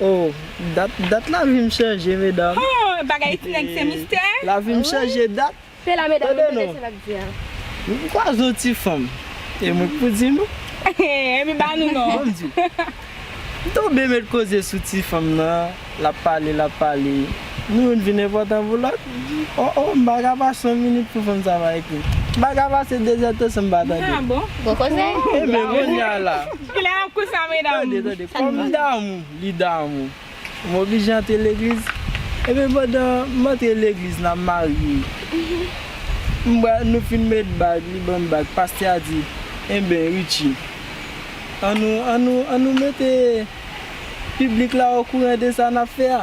Oh dat dat lavim chanje medam. Ho bagay ti nèg se mistè. Lavim chanje dat. Se la medam yo tande sa lap di a. Nou pou kwaze yon ti fanm e mwen ki pou di nou. Epi ba nou non. Bon Dieu. M tonbe met koze sou ti fanm nan lap pale lap pale nou youn vin enpòtan pou lòt oh oh m paka pase yon minit pou fanm sa pa ekrim m paka pase dezètasyon m pa tande l. Bon koze. Enben kounye a la. Kilè nap koud sa medam. Tande tande kòm m damou li damou m oblije antre legliz ebyen pandan m antre legliz nan marye m bra nou fin met bag li banm bag pastè a di enben Richie an nou an nou an nou mete piblik la okouran de sa nap fè a.